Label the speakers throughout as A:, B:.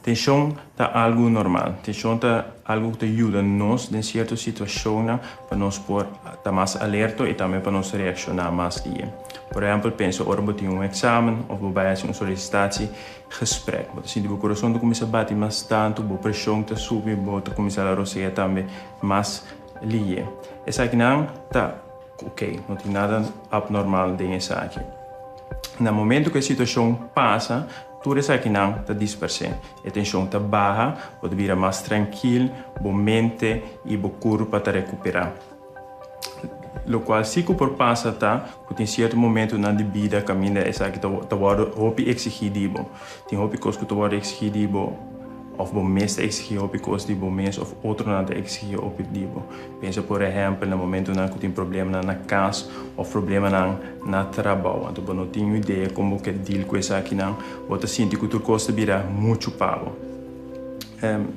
A: Tenshon ta algu normal. Tenshon ta algu ku ta yuda nos den sierto situashonnan pa nos por ta mas alerto i tambe pa nos reakshoná mas bien. Por ehèmpel, pensa ora bo tin un eksamen òf bo bai hasi un solisitatsi gesprek. Bo ta sinti bo kurason ta kuminsá bati mas tantu, bo preshon ta subi, bo ta kuminsá la rosea tambe mas lihé. Esakinan ta. Ok, no tin nada abnormal den esaki. Na momento cu e situacion pasa, tur esakinan ta dispers'é. E tension ta baha, bo ta bira mas trankil, bo mente y bo curpa ta recupera. Locual si cu por pasa ta cu tin cierto momentonan di bida caminda esaki ta wordo hopi exigi di bo. Tin hopi cos cu ta wordo exigi di bo of bo mes ta exigi hopi cos di bo mes of otronan ta exigi hopi di bo. Pensa por ehèmpel na momentunan ku tin problemanan na kas òf problemanan na trabou. Anto bo no tin un idea kon bo ke deal ku esakinan. Bo ta sinti ku tur kos ta bira muchu pa bo.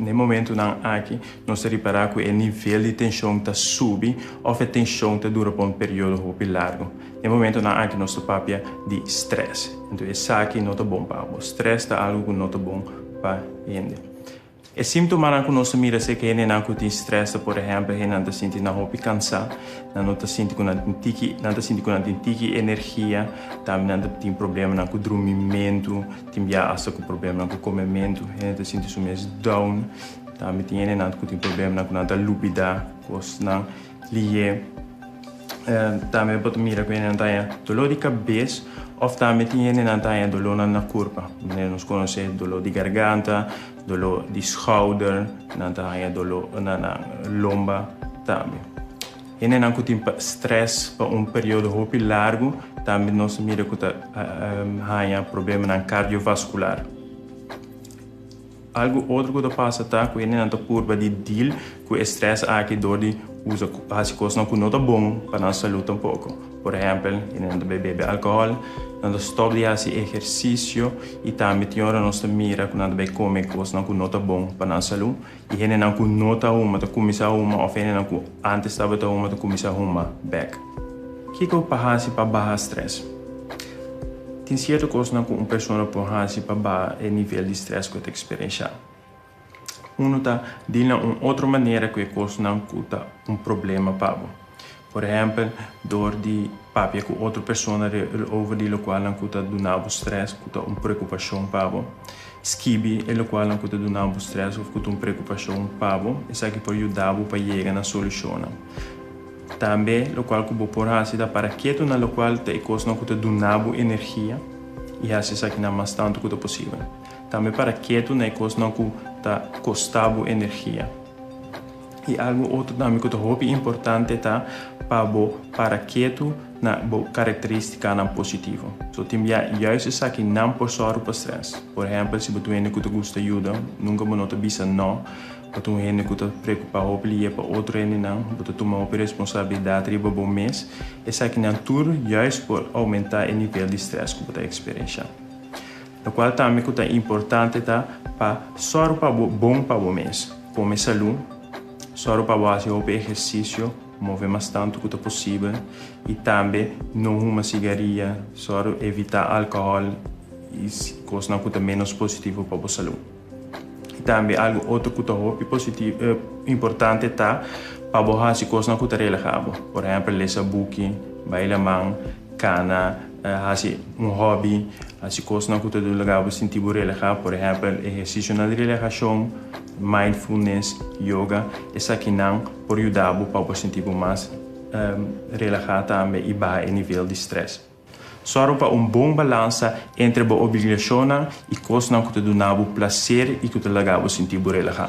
A: Na e momentunan aki nos ta ripará ku e nivel di tenshon ta subi òf e tenshon ta dura pa un periodo hopi largu. Na e momentunan aki nos ta papia di strès. Anto esaki no ta bon pa bo. Strès ta algu ku no ta bon pa hende. E símptomanan ku nos ta mira es ke hendenan ku tin strèsnan, por ehèmpel, hendenan ta sinti nan hopi kansá, nan no ta sinti ku nan tin tiki, nan ta sinti ku nan tin tiki energia, tambe nan ta tin problemanan ku drumimentu, tin bia asta ku problemanan ku komementu, hende ta sinti su mes down, tambe tin hendenan ku tin problemanan ku nan ta lubidá kosnan. Liye tambe bo ta mira ku hende nan ta haña doló di kabes òf tambe tin hende nan ta haña dolónan na kurpa. Manera nos konos'é doló di garganta, doló di skouder, nan ta haña doló na nan lomba tambe. Hende nan ku tin strès pa un periodo hopi largu tambe nos ta mira ku ta haña problemanan kardiovaskular. Algu otro cu ta pasa ta cu e nenan ta purba di deal cu e stress aki dor di usa cu haci cosnan cu no ta bon pa nan salud tampoco. Por ehempel, e nenan ta bebe alcohol, nan ta stop di haci ehercicio y tambe tin ora nos ta mira cu nan ta bay come cosnan cu no ta bon pa nan salud. Y henenan cu no ta huma ta cuminsa huma of henenan cu antes tabata huma ta cuminsa huma bek. Kiko pa hasi pa baha strès? Tin sierto kosnan ku un persona por hasi pa baha e nivel di strès ku e ta eksperensiá. Unu ta dil na un otro manera ku e kosnan ku ta un problema pa bo. Por ehèmpel, dor di papia ku otro persona over di lokualnan ku ta duna bo strès, ku ta un preokupashon pa bo. Skibi e lokualnan ku ta duna bo strès òf ku ta un preokupashon pa bo. Esaki por yuda bo pa yega na solushonnan. Tambe lokual ku bo por hasi ta para ketu na lokual ta e kosnan ku ta duna bo energia i hasi esakinan mas tantu ku ta posibel. Tambe para ketu na e kosnan ku ta kosta bo energia. I algu otro tambe ku ta hopi importante ta pa bo para ketu na bo karakterístikanan positivo. So tin bia yuis esakinan por sòru pa strès. Por ehèmpel si bo duende ku ta gusta yuda, nunka bo no ta bisa nò. Pa tur hende ku ta preokupá hopi lihé pa otro hendenan, bo ta tuma hopi responsabilidat riba bo mes. Esakinan tur juist por oumentá e nivel di strès ku bo ta eksperenshá. Lokual tambe ku ta importante ta pa sòru pa bo bon pa bo mes. Kome salú, sòru pa bo hasi hopi ehersisio, move mas tantu ku ta posibel i tambe no huma sigaria. Sòru evitá alkohòl i kosnan ku ta ménos positivo pa bo salú. I tambe algu otro ku ta hopi positivo, importante ta pa bo hasi kosnan ku ta relaha bo. Por ehèmpel, lesa buki, bai laman, kana, hasi un hòbi, hasi kosnan ku ta duna laga bo sinti bo relaha. Por ehèmpel, ehersisionan di relahashon, mindfulness, yoga, esakinan por yuda bo pa bo sinti bo mas relaha tambe i baha e nivel di strès. Sòru pa un bon balansa entre bo obligashonnan i kosnan ku ta duna bo plaser i ku ta laga bo sinti bo relahá.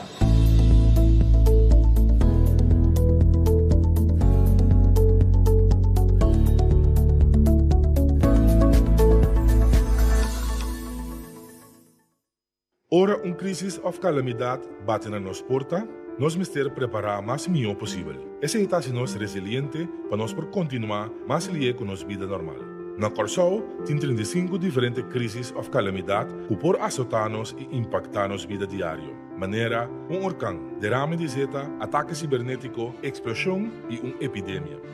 B: Ora un krísis òf kalamidat bati na nos porta, nos mester prepará mas mihó posibel. Esei ta hasi nos resiliente pa nos por kontinuá mas lié ku nos bida normal. Na Kòrsou tin trinta i sinku diferente krísis òf kalamidat ku por asotá nos i impaktá nos bida diario, manera un orkan, derame di zeta, atake sibernétiko, eksploshon i un epidemia.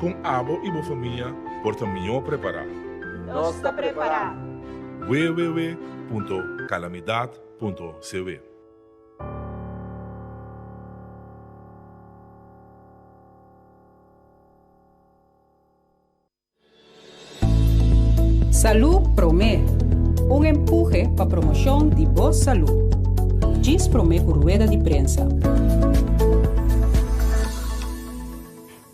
B: Kon abo i bo famia por ta mihó prepará? Nos ta
C: prepará! www.calamidad.cw.
D: Salú Promé, Un empuje pa promoshon di bo salú. Djis promé ku rueda di prensa.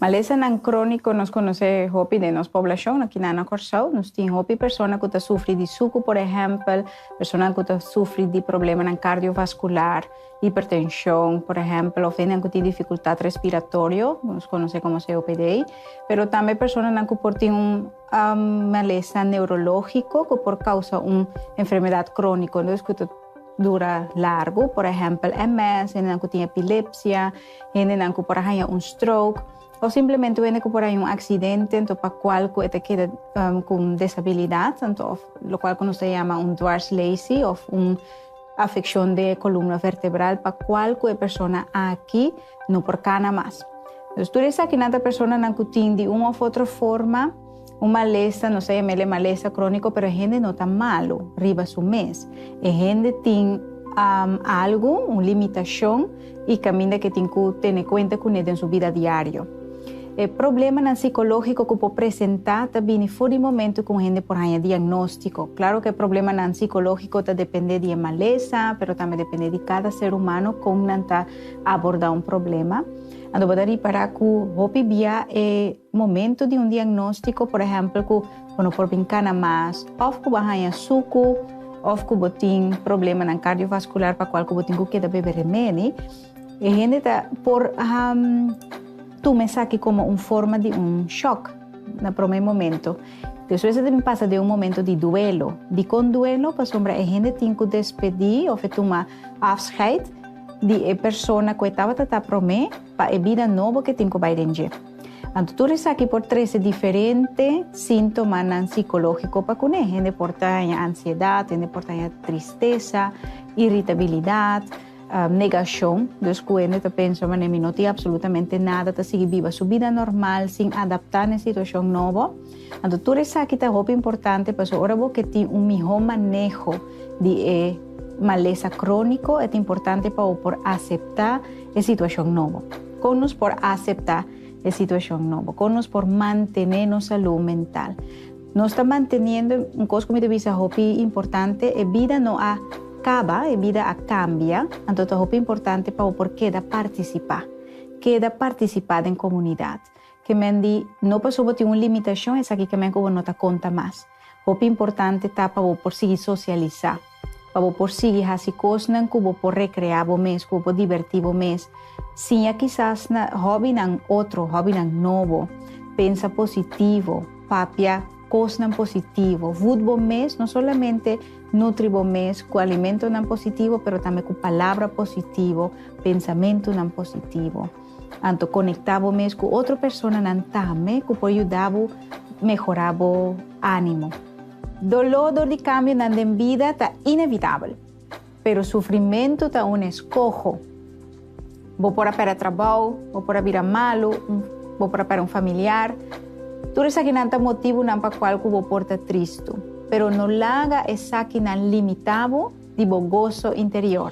E: Malesanan króniko nos konosé hopi den nos poblashon aki na Kòrsou. Nos tin hopi persona ku ta sufri di suku, por ehèmpel, personanan ku ta sufri di problemanan kardiovaskular, hipertenshon, por ehèmpel, òf hendenan ku tin difikultat respiratorio, ku nos konosé komo COPD. Pero tambe personanan ku por tin un malesa neurológiko ku por kousa un enfermedat króniko ku ta dura largu, por ehèmpel, MS, hendenan ku tin epilepsia, hendenan ku por a haña un stroke o simplemente hende ku por a haña un aksidente anto pa kual ku e ta keda ku un desabilidat anto òf lokual ku nos ta yama un dwarslesi òf un afekshon den e kolumna vertebral pa kual ku e persona aki no por kana mas. Tur esakinan ta personanan ku tin di un òf otro forma. Un malesa, nos ta yamel'e malesa króniko, pero e hende no ta malu riba su mes. E hende tin um algu, un limitashon, i kaminda ke tin ku tene kuenta kuné den su bida diario. E problemanan sikológiko ku por presentá ta bini for di momentu ku un hende por haña diagnóstiko. Klaro ku e problemanan sikológiko ta dependé di e malesa, pero tambe dependé di kada ser humano kon nan ta abordá un problema. Anto bo ta ripará ku hopi bia e. Momento di un diagnóstiko, por ehèmpel ku bo no por bin kana mas, òf ku bo haña suku, òf ku bo tin problemanan kardiovaskular pa kual ku bo tin ku keda bebe remedi, e hende ta por tuma esaki komo un forma di un shòk na promé momento. Despues e ta bin pasa den un momento di duelo. Dikon duelo? Pasobra e hende tin ku despedí òf e tuma afscheid di e persona ku e tabata ta promé pa e bida nobo ku e tin ku bai den dje. Anto tur esaki por trese diferente sintomanan sikológiko pa kuné. Hende por ta haña ansiedat, hende por ta haña tristesa, iritabilidat, negashon, dus ku hende ta pensa manera mi no tin absolutamente nada, ta sigui biba su bida normal sin adaptá na e situashon nobo. Anto tur esaki ta hopi importante pasobra ora bo ke tin un mihó maneho di e malesa króniko, e ta importante pa bo por aseptá e situacion nobo? Con nos por acepta e situacion nobo? Con nos por mantene nos salud mental? Nos ta manteniendo, un cos cu mi ta bisa hopi importante, e bida no a caba, e bida a cambia, anto ta hopi importante pa bo por keda participa. Keda participa den comunidad. Ke men di, no pasobra bo tin un limitacion esaki ke men cu bo no ta conta mas. Hopi importante ta pa bo por sigui sosialisá, pa bo por sigui hasi kosnan ku bo por rekreá bo mes, ku bo por divertí bo mes. Siña kisas na hòbinan otro, hòbinan nobo. Pensa positivo, papia kosnan positivo. Vùt bo mes, no solamente nutri bo mes ku alimentonan positivo, pero tambe ku palabra positivo, pensamentunan positivo. Anto konektá bo mes ku otro personanan tambe ku por yuda bo mehorá bo ánimo. Doló dor di kambionan den bida ta inevitabel, pero sufrimentu ta un eskoho. Bo por a pèrdè trabou, bo por a bira malu, bo por a pèrdè un familiar. Tur esakinan ta motibunan pa kual ku bo por ta tristu, pero no laga esakinan limitá bo di bo goso interior.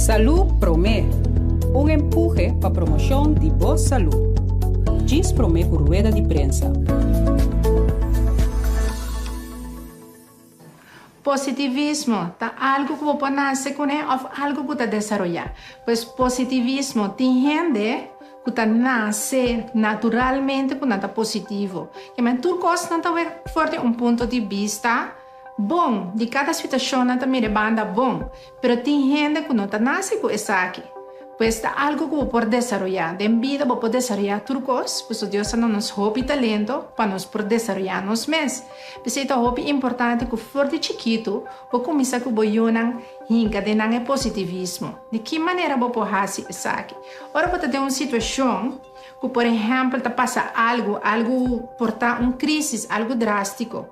D: Salú Promé, Un empuje pa promoshon di bo salú. Djis promé ku rueda di prensa.
F: Positivismo ta algu ku bo por nase kuné òf algu ku ta desaroyá. Pues positivismo, tin hende ku ta nase naturalmente ku nan ta positivo. Ke men tur kos nan ta wak for di un punto di bista bon, di kada situashon nan ta mira e banda bon. Pero tin hende ku no ta nase ku esaki. Pues ta algu ku bo por desaroyá. Den bida bo por desaroyá tur kos, pasobra Dios a duna nos hopi talento pa nos por desaroyá nos mes. P'esei ta hopi importante ku for di chikitu bo kuminsá ku bo yunan hinka den nan e positivismo. Di ki manera bo por hasi esaki? Ora bo ta den un situashon ku por ehèmpel ta pasa algu, algu por ta un krísis, algu drástiko.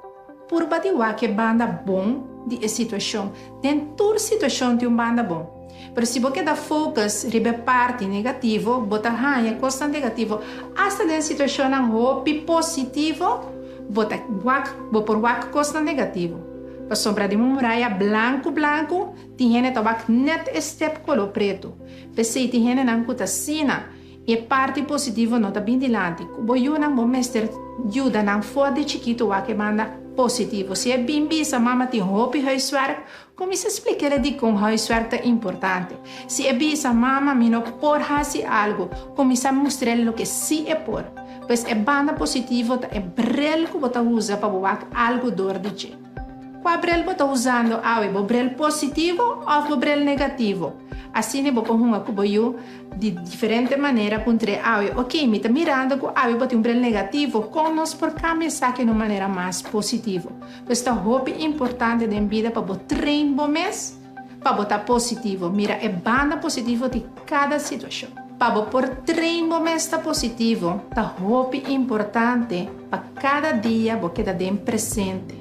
F: Purba di wak e banda bon di e situashon. Den tur situashon tin un banda bon. Pero si bo keda focus riba e parti negativo, bo ta haña kosnan negativo. Asta den situashonnan hopi positivo, bo ta wak, bo por wak kosnan negativo. Pasobra den un muraya blanku blanku, tin hende ta wak nèt e stèp koló pretu. P'esei tin hendenan ku ta asina. I e parti positivo no ta bin dilanti. Ku bo yunan bo mester yuda nan for di chikito wak banda positivo. Si e bin bisa, Mama tin hopi huiswerk, kuminsá splik'ele dikon huiswerk ta importante. Si e bisa, Mama mi no por hasi algu, kuminsá mustr'el loke sí e por. Pues e banda positivo ta e brel ku bo ta usa pa bo wak algu dor di dje. Kua brel bo ta usando awe, bo brel positivo of bo brel negativo? Asina bo por hunga ku bo yu di diferente manera ku un tre awe. Oke, mi ta mirando ku awe bo tin un brel negativo, kon nos por kambia esaki na un manera mas positivo? Pues ta hopi importante den bida pa bo train bo mes. Pa bo ta positivo, mira e banda positivo di kada situashon. Pa bo por train bo mes ta positivo, ta hopi importante pa kada dia bo keda den presente.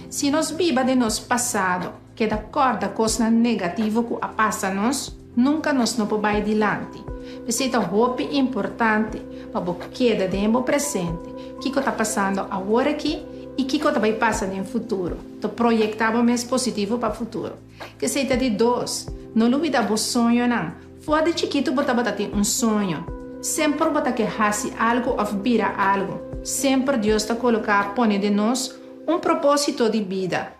F: Si nos biba den nos pasado, keda kòrda kosnan negativo ku a pasa nos, nunka nos no por bai dilanti. P'esei ta hopi importante pa bo keda den bo presente, kiko ta pasando aworakí i kiko ta bai pasa den futuro. Ta proyecta bo mes positivo pa futuro. Cu esey ta di dos, no lubida bo soñonan. Foa di chikitu bo tabata tin un soño. Semper bo ta ke haci algo of bira algo. Semper Dios ta coloca pone den nos un proposito di bida.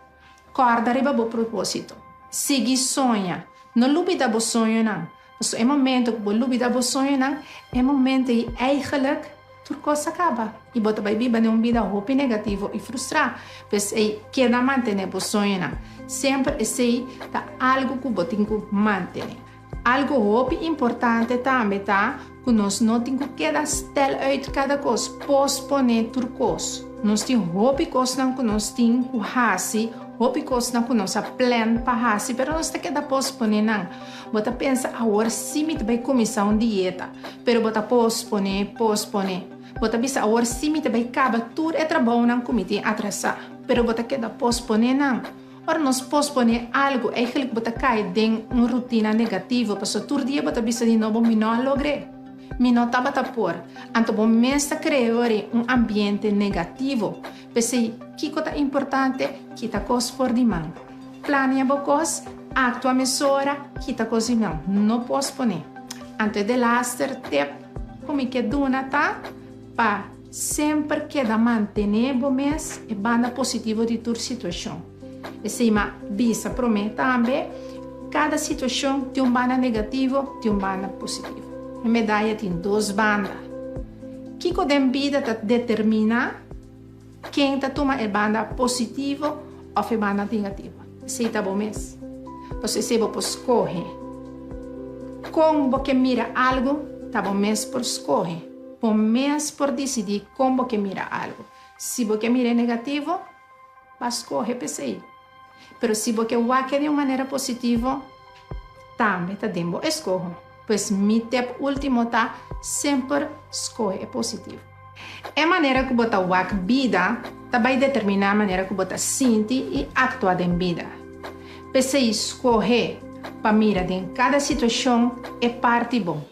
F: Corda riba bo proposito. Sigui soña. No lubida bo soñonan. Pasobra e momento ku bo lubidá bo soñonan, e momento ei eigelik tur kos ta kaba i bo ta bai biba den un bida hopi negativo i frustrá. P'esei, keda mantené bo soñonan. Semper esei ta algu ku bo tin ku mantené. Algu hopi importante tambe ta Ku nos no tin ku keda stèl uit kada kos, posponé tur kos. Nos tin hopi kosnan ku nos tin ku hasi, hopi kosnan ku nos a plèn pa hasi, pero nos ta keda posponé nan. Bo ta pensa, Awor sí mi ta bai kuminsá un dieta. Pero bo ta posponé, posponé. Bo ta bisa, Awor sí mi ta bai kaba tur e trabounan ku mi tin atrasá. Pero bo ta keda posponé nan. Ora nos posponé algu, eigelijk bo ta kai den un rutina negativo, pasobra tur dia bo ta bisa di no bo mi no a logr'é, mi no tabata por, anto bo mes ta kreó ri un ambiente negativo. P'esei, kiko ta importante? Kita kos for di man. Planea bo kos, aktua mesora, kita kos di man, no posponé. Anto e delaster tep ku mi ke duna ta pa. Semper keda mantené bo mes e banda positivo di tur situashon. Esei ma bisa promé tambe, Kada situashon tin un banda negativo, tin un banda positivo. E medaya tin dos banda. Kiko den bida ta determina ken ta tuma e banda positivo òf e banda negativo? Si ta bo mes, pues esei bo por skohe kon bo ke mira algu, ta bo mes por skohe. Bo mes por disidí kon bo ke mira algu. Si bo ke mira e negativo, b'a skohe p'esei. Pero si bo ke wak e di un manera positivo, tambe ta den bo eskoho. Pues mi tep último ta, semper skohe e positivo. E manera ku bo ta wak bida ta bai determiná manera ku bo ta sinti i aktua den bida. P'esei skohe pa mira den kada situashon e parti bon.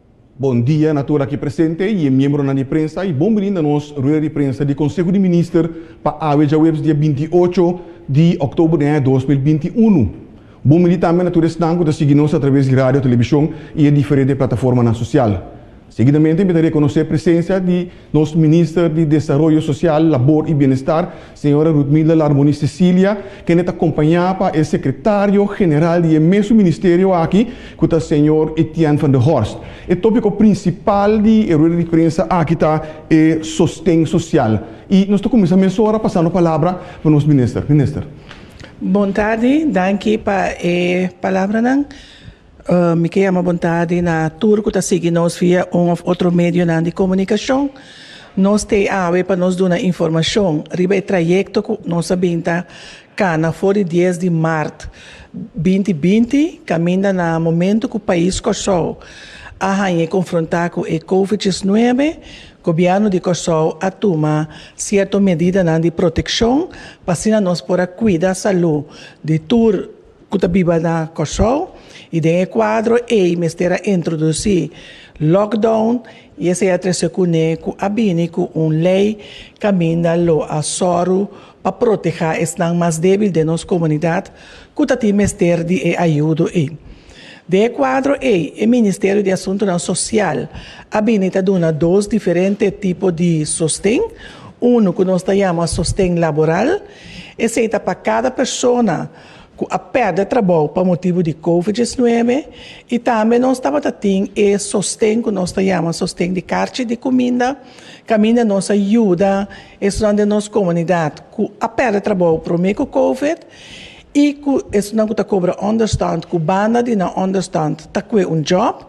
G: Bon dia na tur aki presente y e miembronan di prensa y bon bini na nos rueda di prensa di Conseho di Minister pa awe djahuebes dia binti i ocho di October den aña dos mil binti i unu. Bon bini tambe na tur esnan cu ta sigui nos a traves di radio, television y e diferente plataformanan social. Seguidamente mi ta reconoce presencia di. Nos Minister di Desaroyo Social, Labor i Bienestar, señora Rudmilda Larmoni Cecilia, kende ta kompañá pa e Sekretario General di e mesun ministerio aki ku ta señor Etienne van der Horst. E tópiko prinsipal di e rueda di prensa aki ta e sosten sosial i nos ta kuminsá mesora pasando palabra pa nos Minister. Minister. Bon
H: tardi, danki pa e palabranan. Mi ke yama bontadi na tur ku ta sigui nos via un òf otro medionan di komunikashon. Nos t'e awe pa nos duna informashon riba e trayekto ku nos a bin ta kana for di dies di mart binti binti kaminda na momentu ku pais Kòrsou a haña e konfrontá ku e kovid diesnuebe. Gobièrnu di Kòrsou a tuma sierto medidanan di protekshon pa asina nos por a kuida salú di tur. ku ta biba na Kòrsou i den e kuadro ei mester a introdusí lockdown i esei a trese kuné ku a bini ku un lei kaminda lo a sòru pa protehá esnan mas débil den nos komunidat ku ta tin mester di e ayudo ei. Den e kuadro ei e Ministerio di Asuntunan Sosial a bini ta duna dos diferente tipo di sosten, unu ku nos ta yama sosten laboral, esei ta pa kada persona, cu a perde trabou pa motibu di covid diesnuebe y tambe nos tabata tin e sosten cu nos ta yama sosten di carchi di cuminda caminda nos a yuda esunnan den nos comunidad cu a perde trabou prome cu covid y cu esunnan cu ta cobra understand cu banda di nan understand ta cue un job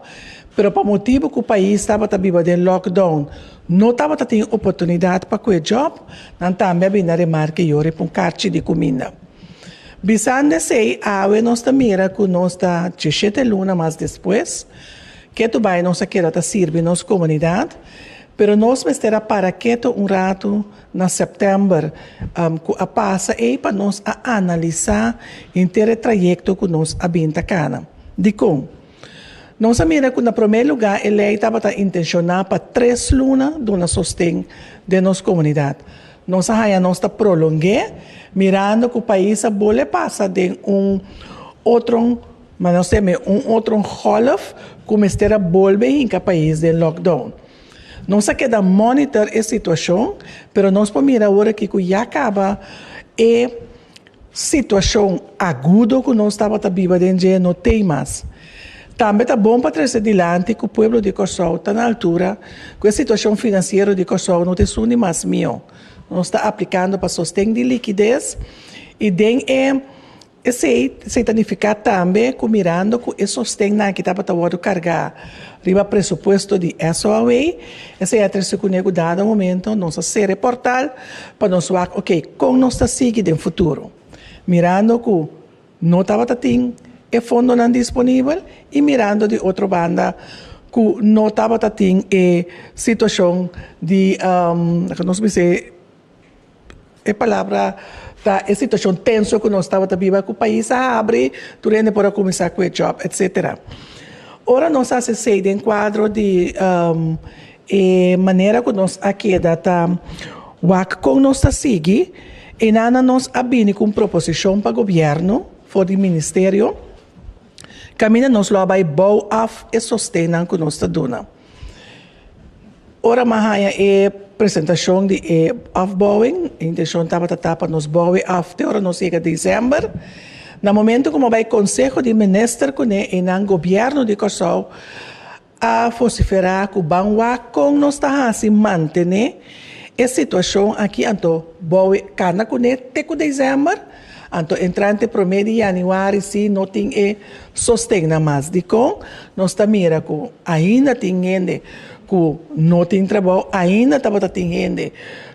H: pero pa motibu cu pais tabata biba den lockdown no tabata tin oportunidad pa cue job nan tambe a bini a remarke yo riba un carchi di cuminda. Bisanda esei, awe nos ta mira ku nos ta dje shete luna mas despues. Ketu bai nos a keda ta sirbi nos komunidat, pero nos mester a para ketu un ratu na sèptèmber ku a pasa ei pa nos a analisá henter e trayekto ku nos a bin ta kana. Dikon? Nos a mira cu na prome luga e ley tabata intentiona pa tres luna duna sosten den nos comunidad. Nos a haya nos ta prolonge mirando cu pais a bole pasa den un otron, ma nos teme un otron golf cu mester a bolbe hinca pais den lockdown. Nos a keda monitor e situacion pero nos por mira awor aki cu ya caba e. Situashon agudo ku nos tabata biba den dje no tei mas. Tambe ta bon pa trese dilanti ku pueblo di Kòrsou ta na altura ku e situashon finansiero di Kòrsou no ta esun di mas mihó. Nos ta aplikando pa sosten di likides i den e esei esei ta nifiká tambe ku mirando ku e sostennan aki tabata wòrdu kargá riba presupuesto di SOAW, Esei a trese kuné ku dado momento nos a sera e portal pa nos wak ok kon nos ta sigui den futuro, mirando ku no tabata tin e fondonan disponibel i mirando di otro banda ku no tabata tin e situashon di laga nos bisa e. E palabra ta e situacion tenso cu nos tabata biba cu pais a habri, tur hende por a cuminsa cu e job etc. Ora nos a haci esey den cuadro di e manera cu nos a keda ta wak con nos ta sigui, Enana nos a bini cu un proposicion pa gobierno for di ministerio caminda nos lo a bay bou af e sostennan cu nos ta duna. Ora mi a haña e presentashon di e afbouwing, e inteshon tabata ta pa nos bou e af te ora nos yega Desember. Na momentu ku mi a bai konseho di minister kuné i nan gobièrnu di Kòrsou a fosiferá ku ban wak kon nos ta hasi mantené e situashon akí, anto bou e kana kuné te ku Desember. Anto entrante promé di yanüari si no tin e sostennan mas. Dikon nos ta mira ku ainda tin hende ku no tin trabou? Ainda tabata tin hende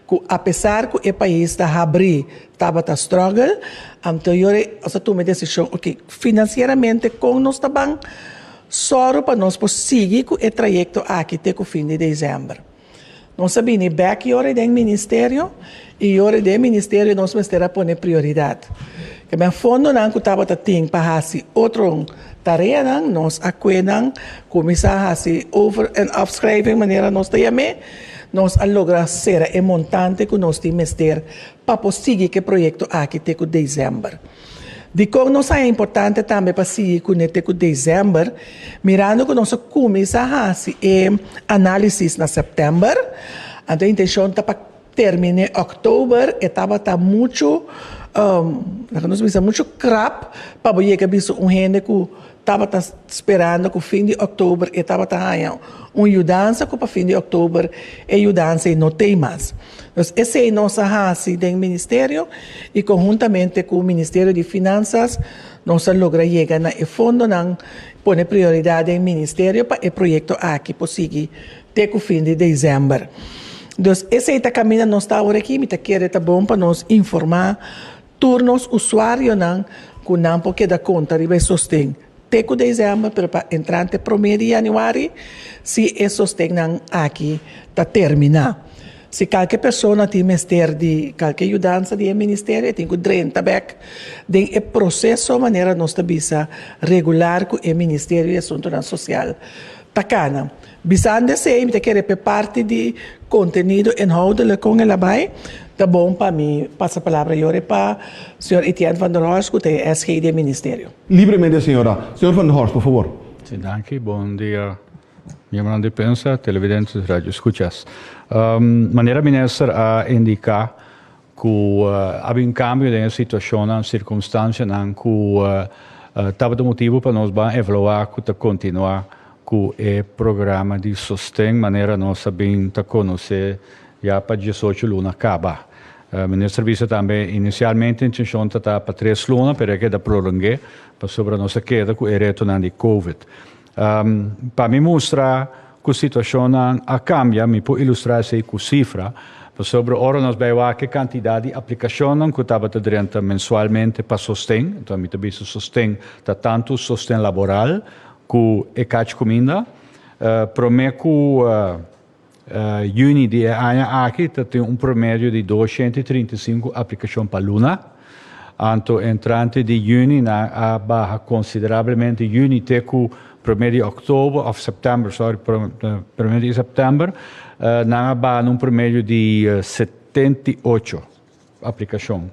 H: ku apesar ku e pais ta habrí tabata struggle. Anto yo rei nos a tuma e desishon, oke, finansieramente kon nos ta ban sòru pa nos por sigui ku e trayekto aki te ku fin di desèmber? Nos a bini bek yori den ministerio y yori den ministerio nos mester a pone prioridad. Kende fondonan cu tabata tin pa haci otro tareanan nos a kue nan cuminsa haci over en afschrijving manera nos ta yam'e, nos a logra cera e montante cu nos tin mester pa por sigui ki proyecto aki te cu december. Dikon nos a importante tambe pa sigui kuné te ku desèmber, mirando ku nos a kuminsá hasi e análisis na sèptèmber, anto e intenshon ta pa terminé òktober, e tabata muchu, loke nos bisa, muchu krap pa bo yega bisa un hende ku. Tabata sperando cu fin di October e tabata haña un yudansa cu pa fin di October e yudansa ei no t'ei mas. Dus esey nos a haci den Ministerio y conhuntamente cu Ministerio di Finanzas nos a logra yega na e fondonan, pone prioridad den Ministerio pa e proyecto aki por sigui te cu fin di December. Dus esey ta caminda nos ta awor'eki, mi ta kere ta bon pa nos informa. Tur nos usuarionan ku nan por keda konta riba e sosten te ku desèmber pero pa entrante promé di yanüari si e sostennan aki ta terminá. Si kalke persona tin mester di kalke yudansa di e ministerio e tin ku drenta bèk den e proseso manera nos ta bisa regular ku e ministerio di asuntunan sosial. Ta cana. Bisando esey mi ta kere p'e parti di contenido inhoudelijk con e labai, ta bon pa mi pasa palabra yore pa Señor Etienne van der Horst cu ta e SG di e Ministerio. Libremente señora.
G: Señor van der Horst, por favor. Si, danki. Bon
I: dia miembronan di prensa, televidente's, radio escuchas. Manera Minister a indica, Ku a bin kambio den e situashonnan, sirkunstansianan ku tabata motibu pa nos ban evaluá ku ta kontinuá ku e programa di sosten manera nos a bin ta konosé ya pa diesocho luna kaba. Minister bisa tambe inisialmente e ntenshon ta ta pa tres luna pero e keda prolong'é pasobra nos a keda ku e retonan di covid. Pa mi mustra ku situashonnan a kambia mi por ilustrá esei ku sifra, pasobra ora nos bai wak e kantidat di aplikashonnan ku tabata drenta mensualmente pa sosten, enton mi ta bisa sosten ta tantu sosten laboral ku e kach kuminda. Promé ku Juni di e aña aki ta tin un promedio di dos shenta i trinta i sinku aplikashon pa luna. Anto entrante di juni nan a baha konsiderablemente juni te ku promé di òktober, òf sèptèmber, sòri, promé di sèptèmber, nan a baha na un promedio di setenta i ocho. Aplikashon.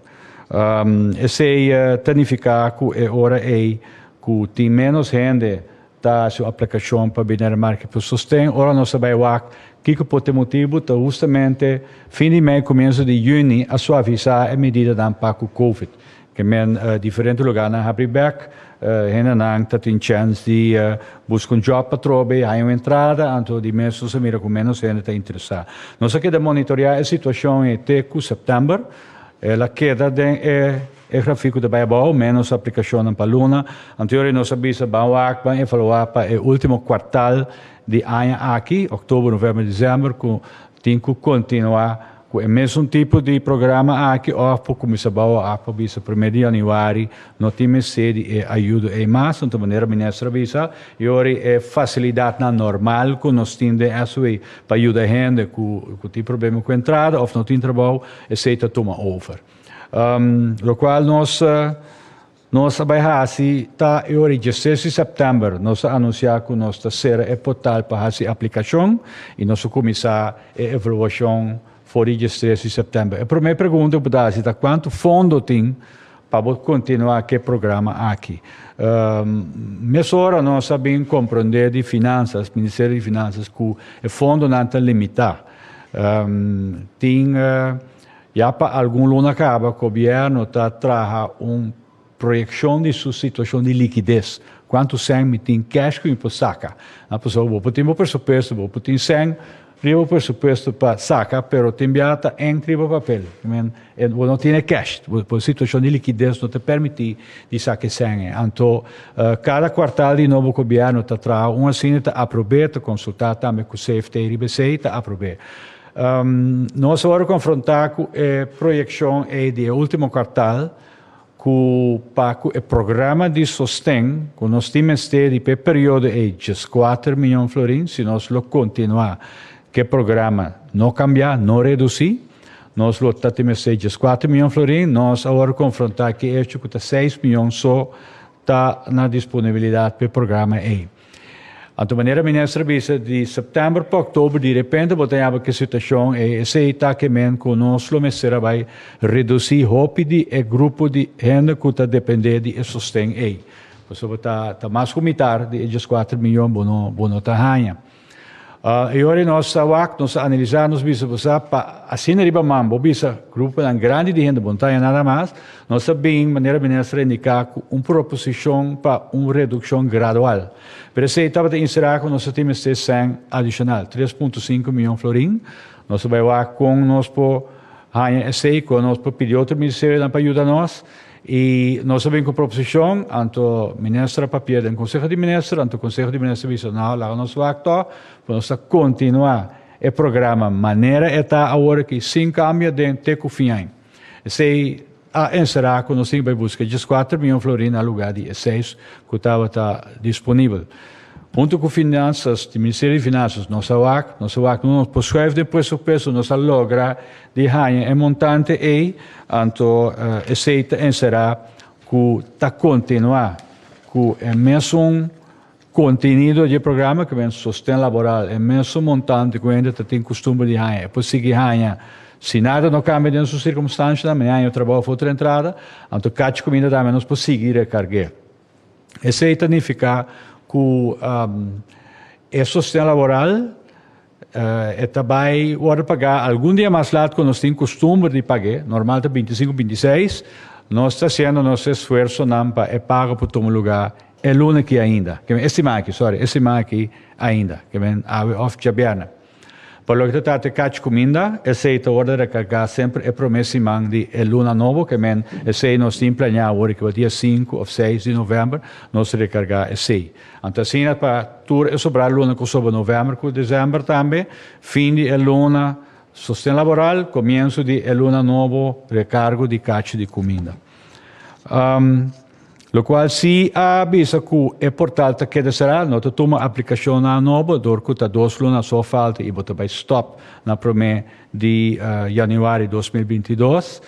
I: Esei ta nifiká ku e ora ei ku tin ménos hende ta hasi un aplikashon pa bini na e Marki Pul Sosten. Ora nos ta bai wak kiko por ta e motibu, ta hustamente fin di mei, kumienso di yüni a suavisá e medidanan pa ku Covid. E men diferente luganan habri bek. Hendenan ta tin chèns di buska un jòb patrò bei, haña un entrada, anto di mes nos a mira ku ménos hende ta interesá. Nos a keda monitoreá e situashon ei te ku sèptèmber. El a keda den e e grafiko ta bai abou, ménos aplikashonnan pa luna anterior i nos a bisa ban wak ban evaluá pa e último kuartal di aña aki, òktober, novèmber, desèmber, ku tin ku kontinuá. Cu e mesun tipo di programa aki of por cuminsa bouw af pa bisa primer di januari no tin mester di e ayudo ey mas, hunto manera Minister a bisa, y ori e facilidadnan normal cu nos tin den SWE pa yuda hende cu cu tin problema cu entrada of no tin trabou esey ta tuma over. Locual nos. Nos a bai hasi ta e ora di dieses di sèptèmber nos a anunsiá ku nos ta sera e portal pa hasi aplikashon i nos a kuminsá e evaluashon for di diestres di sèptèmber. E promé pregunta ku bo ta hasi ta kuantu fondo tin pa bo kontinuá ku e programa aki? Mesora nos a bin komprondé di Finansas, Ministerio di Finansas, ku e fondonan ta limitá. Tin. Ya pa algun luna caba, Gobierno ta traha un proyeccion di su situacion di liquidez. Cuantu cen mi tin cash cu mi por saca? Pasobra bo por tin bo presupuesto, bo por tin cen riba bo presupuesto pa saca, pero tin bia ta enc riba papel. I mean, bo no tin e cash. Bo, bo situacion di liquidez no ta permiti di saca e cen ei. Anto, cada cuartal di nobo Gobierno ta traha un asina, ta aprobé, ta consulta tambe cu CFT riba esey, ta aprobé. Nos a wòrdu konfrontá ku e proyekshon ei di e último kuartal ku pa ku e programa di sosten ku nos tin mester di pa e periodo ei djes kuater mion florin si nos lo kontinuá ku e programa no kambiá, no redusí, nos lo ta tin mester djes kuater mion florin, nos a wòrdu konfrontá ku e echo ku ta seis mion so ta na disponibilidat pa e programa ei. Anto manera minister a bisa di september pa oktober di repente bo ta yaba ke situashon ei. Esei ta kemen ku nos lo mester a bai redusí hopi di e grupo di hende ku ta dependé di e sosten ei. Pasobra ta mas ku mitar di e dieskuater miyon bo no ta haña. E ora nos ta wak, nos ta analisá, nos bisa ku sa pa asina riba man bo bisa gruponan grandi di hende bon ta aña nada mas, nos ta bini manera minister a indiká ku un proposishon pa un redukshon gradual. Pero esei tabata inserá ku nos ta tin mester sèn adishonal tres punto sinku miyon florin. Nos ta bai wak kon nos por haña esei, kon nos por pidi otro ministerionan pa yuda nos. I nos a bin ku proposishon, anto minister a papié den Konseho di Minister, anto Konseho di Minister bisa no a laga nos wak tò, pasobra nos ta kontinuá e programa manera e ta awor aki sin kambio den te ku fin aña. Esei a enserá ku nos tin ke bai buska djes kuater mion florin na lugá di e seis ku tabata disponibel. Huntu ku Finansas, di Ministerio di Finansas, nos a wak, nos a wak, nos por schuif den presupuesto, nos a logra, Di haña e montante ei, anto esei ta enserá ku ta kontinuá ku e mesun kontenido dje programa, ku men sosten laboral, e mesun montante ku hende ta tin kustumber di haña. E por sigui haña si nada no kambia den su sirkumstanshanan, men haña trabou for otro entrada, anto kachi kuminda tambe nos por sigui rekarg'é. Esei ta nifiká ku e sosten laboral E ta bai wòrdu pagá algun dia mas lat ku nos tin kustumber di pag'é, normal ta bintisinku, bintiseis. Nos ta hasiendo nos esfuersonan pa e pago por tuma lugá e luna aki ainda, ke men e siman aki, sòri, e siman aki ainda, ke men awe òf djabièrnè. Pa loke ta trata e kachi kuminda, esei ta wòrdu rekargá semper e promé siman di e luna nobo, ke men esei nos tin planeá awor di kiba dia sinku òf seis di novèmber nos rekargá esei. Anto asina pa tur e sobra luna ku soba novèmber ku desèmber tambe, fin di e luna sosten laboral, komiensu di e luna nobo rekargo di kachi di kuminda. Lokual si a bisa ku e portal ta keda será, no ta tuma aplikashonnan nobo dor ku ta dos luna aso falta i bo ta bai stòp na promé di Januari dos mil binti dos.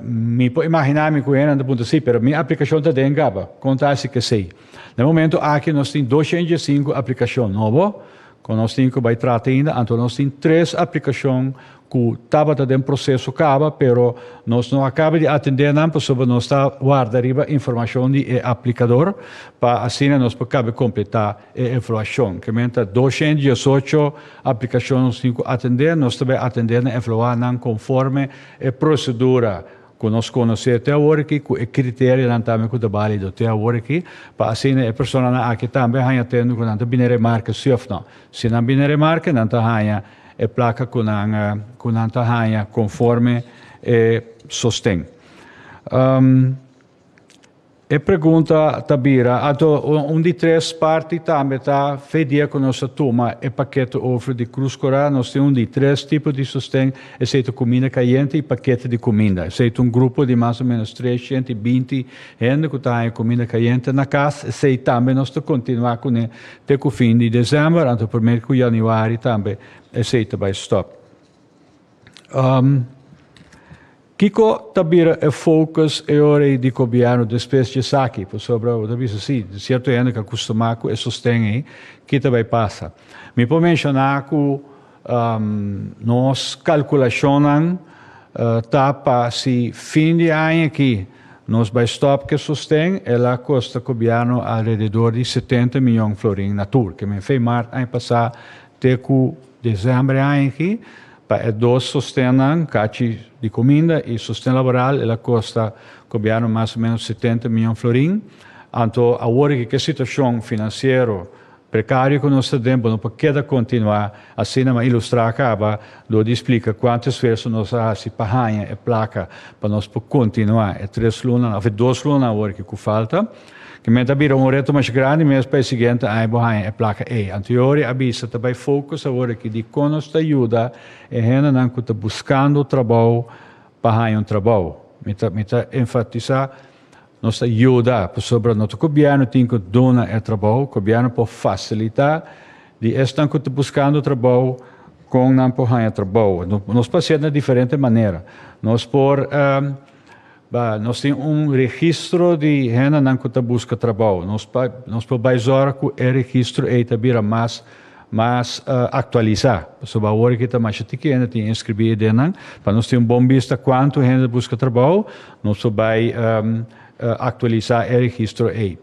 I: Mi por imaginá mi ku hennan ta puntra, Sí, pero mi aplikashon ta den kaba? Kon ta hasi kesei? Na e momentu aki nos tin dos shenta i djes i sinku aplikashon nobo ku nos tin ku bai trata ainda. Anto nos tin tres aplikashon ku tabata den proseso kaba, pero nos no a kaba di atendé nan pasobra nos ta warda riba informashon di e aplikador pa asina nos por kabe kompletá. E evaluashon. Kementa doshen diesocho aplikashon nos tin ku atendé. Nos ta bai atendé na evaluá nan konforme e prosedura ku nos konosé te awor aki, ku e kriterionan tambe ku ta bálido te awor aki, pa asina e personanan aki tambe haña tende ku nan ta bini remarke si òf nò. Si nan bini remarke, nan ta haña e plaka ku nan ku nan ta haña konforme e sosten. E pregunta ta bira, ato un di tres parti tambe ta fe dia ku nos ta tuma e pakete overflow di Krus Korá. Nos tin un di tres tipo di sosten, esei ta kuminda kayente i pakete di kuminda. Esei ta un grupo di mas o ménos tres shent i binti hende ku ta haña kuminda kayente na kas. Esei tambe nos ta kontinuá kuné te ku fin di desèmber, anto primer ku yanüari tambe esei ta bai stòp. Kiko ta bira e focus e ora ei di Gobierno despues di esaki? Pasobra bo ta bisa si, cierto hende ta acostumá cu e sosten ei. Ki ta bay pasa? Mi por menciona cu nos calculacionnan ta pa si fin di aña aki nos bay stop cu e sosten, el a costa Gobierno alrededor di setenta miyon florin na tur. Ke men fey maart aña pasá te cu Desember aña aki, pa e dos sostennan, kachi di kuminda i sosten laboral, el a kosta gobièrnu mas o ménos setenta mion florin. Anto awor aki ku e situashon finansiero prekario ku nos ta den, bo no por keda kontinuá asina, m'a ilustrá kaba dor di splika kuantu esfuerso nos a hasi pa haña e plaka pa nos por kontinuá e tres lunanan òf e dos lunanan awor aki ku falta. Kimen ta bira un reto masha grandi mes pa e siguiente aña bo haña e plaka ei? Antiori a bisa ta bai focus awor aki di con nos ta yuda e hendenan cu ta buscando trabou pa haña un trabou. Mi ta mi ta enfatisa nos ta yuda pasobra no ta cobierno tin cu duna e trabou, cobierno por facilita di esnan cu ta buscando trabou con nan por haña trabou. Nos por hacer na diferente manera. Nos por. Ba, nos tin un registro di hendenan ku ta buska trabou. Nos pa, nos por bai zora ku e registro ei ta bira mas, mas uh, aktualisá. Pasobra awor aki ta masha tiki hende tin inskribí e denan. Pa nos tin un bon bista kuantu hende ta buska trabou, nos por bai um, uh, aktualisá e registro ei.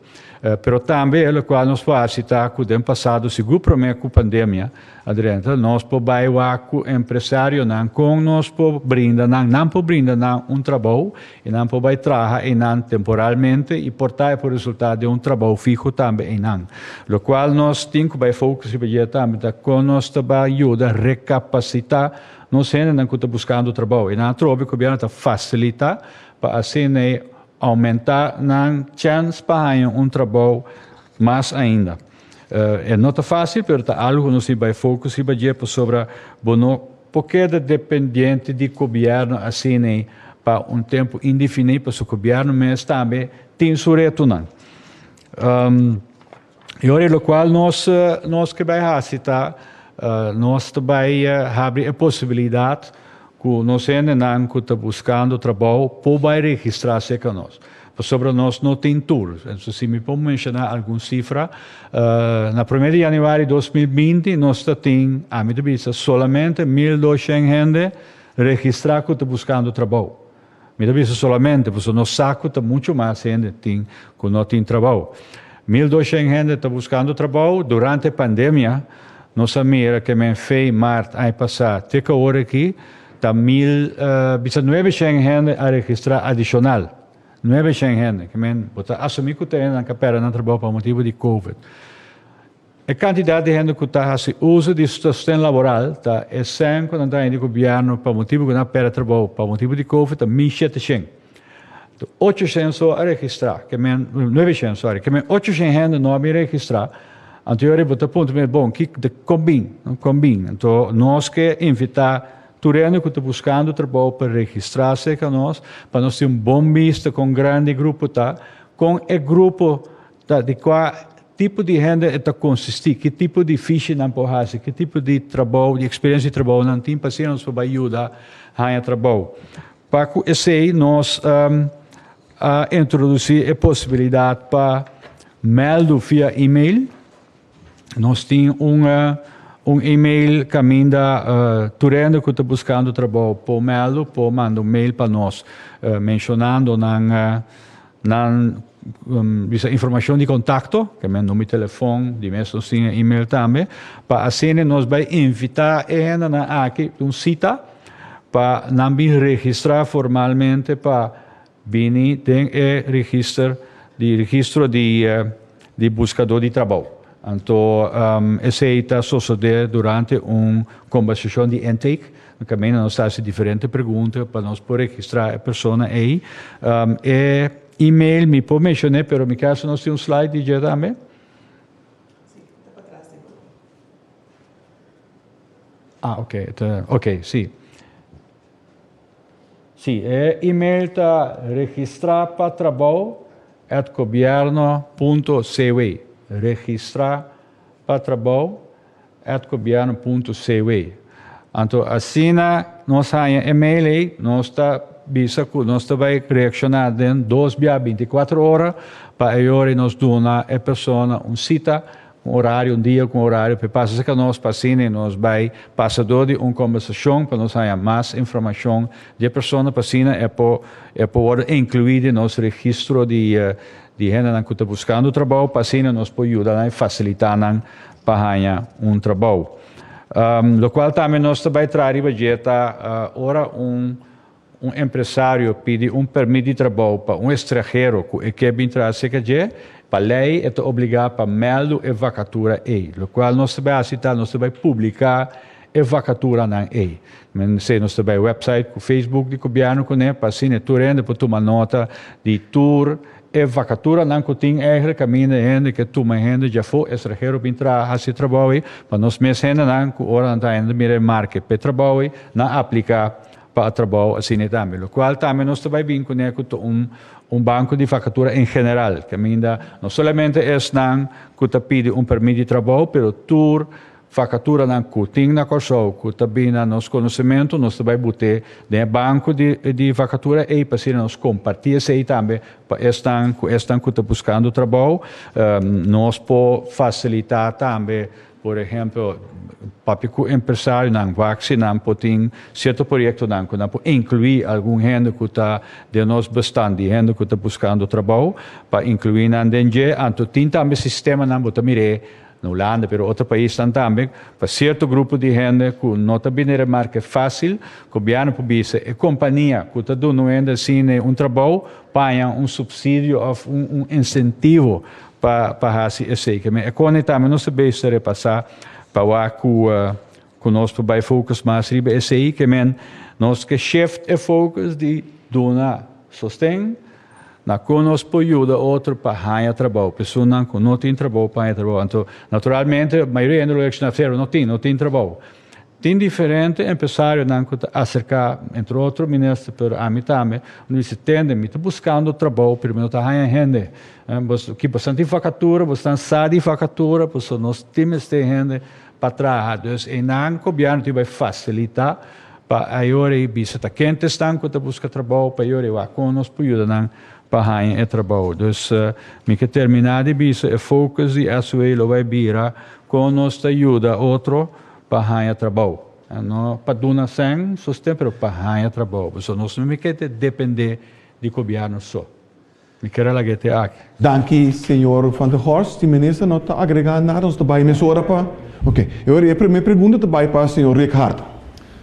I: Pero tambe locual nos por haci ta cu den pasado, sigur prome cu pandemia a drenta, nos por bay wak cu empresarionan con nos por brinda nan, nan por brinda nan un trabou y nan por bay traha einan temporalmente y por ta e por resulta den un trabou fiho tambe einan. Locual nos tin cu bay focus riba dje tambe ta con nos ta bay yuda recapacita nos hendenan cu ta buscando trabou. Einan atrobe e Gobierno ta facilita pa asina e Aumenta nan chèns pa haña un trabou mas ainda. E no ta fásil, pero ta algu ku nos tin bai fokus riba dje pasobra bo no por keda dependiente di gobièrnu asina pa un tempu indefiní pasobra gobièrnu mes tambe tin su retonan. I ora e lokual nos nos ke bai hasi ta nos ta bai habri e posibilidat ku nos hendenan ku ta buskando trabou por bai registrá se ka nos. Pasobra nos no tin tur. Entonces si mi por menshoná algun sifra, na promé di yanüari dos mil binti nos ta tin, ami ta bisa, solamente mil doshen hende registrá ku ta buskando trabou. Mi ta bisa solamente pasobra nos sa cu ta mucho mas hende tin cu no tin trabou. Mil doshend hende ta buscando trabou durante e pandemia. Nos a mira que men fei, maart aña pasa te ca ora aki ta mil, bisa nuebe shend hende a registra adicional. Nuebe shend hende, cu men bo ta asumi cu ta hende nan ca pera nan trabou pa motibu di covid. E kantidat di hende ku ta hasi uso di su sosten laboral ta esèn ku nan ta hende di gobièrnu pa motibu ku nan a pèrdè trabou pa motibu di Covid ta min shete shen. Ta ocho shen so a registrá, ke men nuebe shen, sòri, ke men ocho shen hende no a bin registrá. Anto yori bo ta puntra mi, bon, ki ta kombin? Kon bin? Anto nos ke invitá tur hende ku ta buskando trabou pa registrá serka nos pa nos tin un bon bista kon grandi e grupo ta, kon e grupo Ta di kua tipo di hende e ta konsisti, ki tipo di fishi nan por hasi, ki tipo di trabou, di eksperiensia di trabou nan tin pa asina nos por bai yuda haña trabou. Pa ku esei nos a introdusí e posibilidat pa mèldu via email. Nos tin un un email caminda tur hende cu ta buscando trabou por meldo por manda un mail pa nos mencionando nan nan bisa informacion di contacto ke men number di telefon di mes nos tin e email tambe pa asina nos bay invita e hendenan aki un cita pa nan bin registra formalmente pa Bini den e register di registro di buskadó di trabou. Anto esei ta sosodé durante un kombersashon di intake. Na kaminda nos ta hasi diferente pregunta pa nos por registrá e persona ei. E email mi por menshon'é pero mi kasa nos tin un slide di dje tambe. Ah, oke, ta oke, si. Si e email ta registrá pa trabou at gobierno punto cw, registrá pa trabou at gobierno punto cw. Anto asina nos haña e mail ei, nos ta bisa ku nos ta bai reakshoná den dos bia binti kuater ora pa e ora ei nos duna e persona un sita Un orario, un dia cu un orario p'e pasa cerca nos pa asina nos bay pasa door di un combersacion pa nos haya mas informacion di e persona pa asina e por e por wordo inclui den nos registro di di hendenan cu ta buscando trabao pa asina nos por yuda nan y facilita nan pa haya un trabao. Locual tambe nos ta bay traha riba dje ta ora un Un empresario pidi un permit di trabou pa un estranhero ku e ke bin traha serka dje. Pa lei e ta obligá pa mèldu e vakatura ei. Lokual nos ta bai hasi ta nos ta bai publiká e vakaturanan ei. Mester nos ta bai wèpsait ku facebook di gobièrnu kuné pa asina tur hende por tuma nota di tur e vakaturanan ku tin ègre kaminda e hende ke tuma e hende dje afó estranhero bin traha hasi e trabou ei pa nos mes hendenan ku ora nan ta ainda mira e marke p'e trabou ei nan apliká pa a trabao asina tambe, locual tambe nos ta bai bin cune cu ta un un banco di vacatura en general, caminda no solamente esnan cu ta pidi un permit di trabao, pero tur vacaturanan cu tin na Corsou cu ta bin na nos conocemento nos ta bai bute den e banco di di vacatura ey pa asina nos comparti esey tambe pa esnan cu esnan cu ta buscando trabao nos por facilita tambe Por ehemplo, papia cu empresarionan, waksinan por tin cierto proyectonan cu nan por inclui algun hende cu ta den nos bestan di hende cu ta buscando trabao pa inclui nan den dje. Anto tin tambe sistemanan, bo ta mir'e na Hulanda pero otro paisnan tambe, pa cierto grupo di hende cu no ta bini remarke facil, gobièrnu por bisa e compania cu ta duna un hende asina un trabao, paña un subsidio of un incentivo Pa pa hasi esei ke mi e koni tambe nos ta bezig ta repasá pa wak ku ku nos por bai focus mas riba esei ke men nos ke shift e focus di duna sosten na kon nos por yuda otro pa haña trabou personnan ku no tin trabou pa haña trabou anto naturalmente mayoria hende lo yacciona Fero no tin no tin trabou Tin diferente empresarionan cu ta acerca, entre otro minister, pero ami tambe, no dici, tende, mi ta buscando trabou, pero mi no ta haya hende. Aki bastante di vacatura, bosonan sa di vacatura, pasobra nos tin mester hende pa traha. Dus einan gobierno tin bay facilita pa ayora e bisa ta ken ta esnan cu ta busca trabou, pa ayora e wak con nos p'ayudanan pa haña e trabou. Dus mi ke terminá di bisa e focus di SWA lo bai bira kon nos ta yuda otro pa haña trabou. No pa duna sèn sostén pero pa haña trabou. Pasobra nos no mi ke ta dependé di gobièrnu so. Mi kere lag'é te aki. Danki señor
G: Van der Horst. Si minister no ta agregá nada nos ta bai mesora pa. Oke. E ora e primé pregunta ta bai pa señor Rick Hart.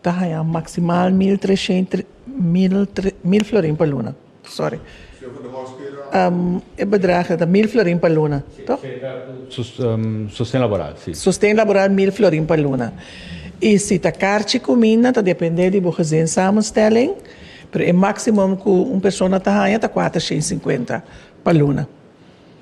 H: Ta haña maksimal mil tresent mil florin pa luna, sorry, e bedrag ta mil florin pa luna, to?
I: Sosten laboral, si. Sosten laboral mil
H: florin pa luna. I si ta karchi kuminda ta dependé di bo gezinssamenstelling, pero e maksimum ku un persona ta haña ta kuatersent sinkuenta pa luna.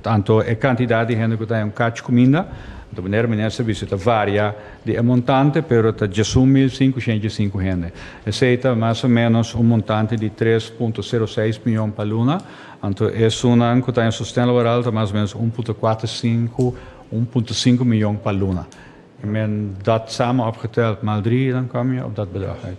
I: Tanto e cantidad di hende cu ta hen cach cuminda, ta manera minister dici, ta varia di e montante, pero ta djesun mil cincocientj i cinco hende. Esey ta mas o menos un montante di tres punto cero seis miyon pa luna, anto esunnan cu ta hen sosten laboral ta mas o menos un punto cuater cinco, un punto cinco miyon pa luna. Men dat samen opgeteld, maldrie dan comia op dat bedrag uit.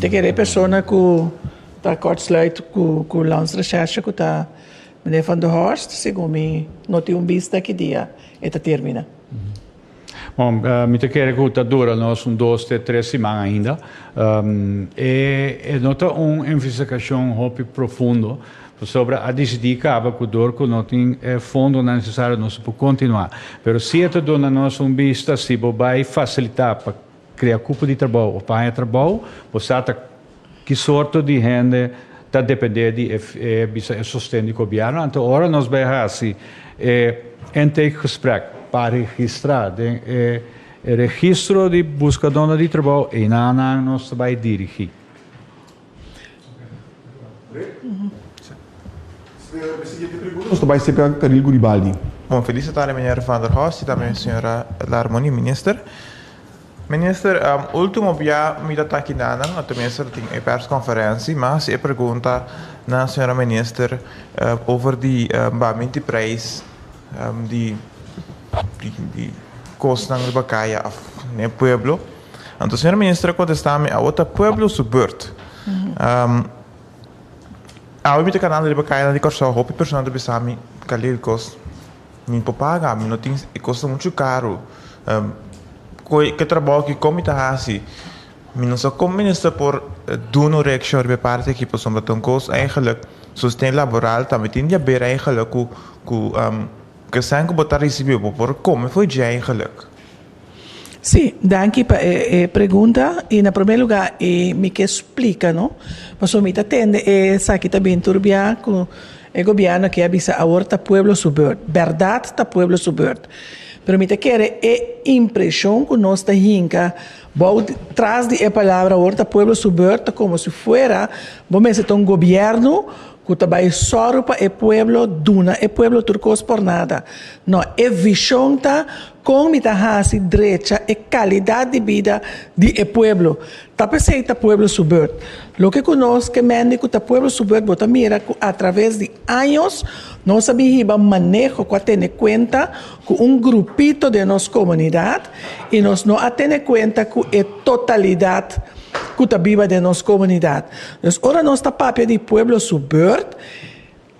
H: Te kere e persona ku ta kortsluit ku Lans Recherche ku ta Meneer Van der Horst, segun mi no tin un bista ki dia e ta termina.
I: Bo, mi ta kere ku ta dura nos un dos te tres siman ainda. E no ta un envestigashon hopi profundo, pasobra a disidí kaba ku dor ku no tin e fondonan nesesario nos a por kontinuá. Pero si e ta duna nos un bista si bo bai fasilitá pa. Krea kupo di trabou of paña trabou. Bo sa ta ki sorto di hende ta dependé di e bisa e sosten di gobièrnu. Anto ora nos bai hasi e intake gesprek pa registrá den e registro di buskadónan di trabou, einan nan nos ta bai dirigí.
G: Bon felisitá di
J: Meñor Van der Horst i tambe Señora Larmonie, Minister. Minister, último bia mi ta taki nanan, o tenminste ta tin e perskonferensi, mi a hasi e pregunta na Señora Minister over di bambin di preis di kosnan riba kaya òf den e pueblo. Anto señor minister a contesta mi, awor ta pueblo su beurt. Awor mi ta cana riba caya nan di Corsou, hopi persona ta bisa mi, Khalil cos mi por paga, mi no tin, e cos ta mucho caro, coe, ke trabao aki, con mi ta haci? Mi no sa con minister por dun'o reaccion riba e parti aki, pasobra ta un cos eigenlijk sosten laboral, tambe tin di haber eigenlijk cu, cu, ke esnan cu bo ta ricibi, bo por come fo'i dje eigenlijk. Sí,
H: danki pa e e pregunta. I na promé lugá i mi ke splika, no, pasobra mi ta tende esaki ta bin tur biaha ku e gobièrnu a ke a bisa awor ta pueblo su beurt, bèrdat ta pueblo su beurt. Pero mi ta kere e impreshon ku nos ta hinka bou tras di e palabra awor ta pueblo su beurt ta komo si fuera bo mester ta un gobièrnu ku ta bai sòru pa e pueblo, duna e pueblo tur kos por nada. No, e vishon ta Kon mi ta hasi drecha e kalidat di bida di e pueblo? Ta p'esei ta pueblo su beurt. Loke ku nos ke mende ku ta pueblo su beurt, bo ta mira ku atraves di años nos a bin hiba maneho ku a tene kuenta ku un grupito den nos komunidat i nos no a tene kuenta ku e totalidat ku ta biba den nos komunidat. Pues ora nos ta papia di pueblo su beurt,